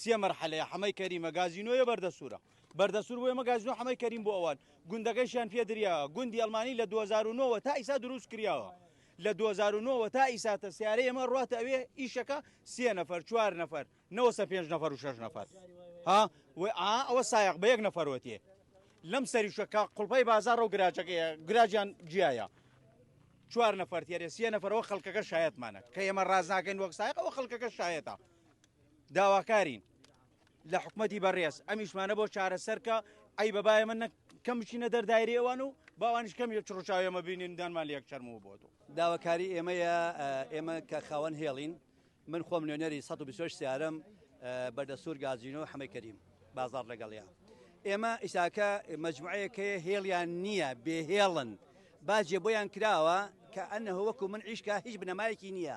سێ مەرحەلەیە حەمەی کەریمە گازینۆیە بەردەسوورە بەردەسوور بۆ ئێمە گازینۆ حەمەی کەریم بۆ ئەوان گوندەکەشیان پێ دریاوە گوندی ئەڵمانی لە 2009ەوە تا ئیسا دروست کراوە لە 2009ەوە تا ئیساتە سیارە ئێمە ڕاتە ئەوێ ئیشەکە سێ نەفەر چوار نەفەر نەوەسە پێنج نەفەر و شش نەفەر ها ئەوە سایق بە یەک نەفەرەتێ لەم سەریشەکە قوڵپەی بازار و گراجەکە گراجیان جیایە چوار نەفەر تێرە سێ نەفەرەوە خەڵکەکە شایەتمانە کە ئێمە ڕاز ناکەین وەک سایقەوە خەڵکەکە شایەتە داواکارین لە حکومەتی بەڕێز ئەمیشمانە بۆ چارەسەرکە ئەی بەبایە من کەم بچینە دەردایری ئەوان و باوانش کەم یە چڕچاوێمە بینین دانمان لەک چەرمەوە بۆ تۆ داواکاری ئێمەیە ئێمە کە خاوەن هێڵین من خۆم نوێنەری 120 سیارم بەردەسوور گازینۆ حەمەی کەریم بازار لەگەڵیان ئێمە ئیساکە مجموعەیەکەیە هێڵیان نییە بێهێڵن باجێ بۆیان کراوە کە ئەنە وەکو من عیشکە هیچ بنەمایەکی نییە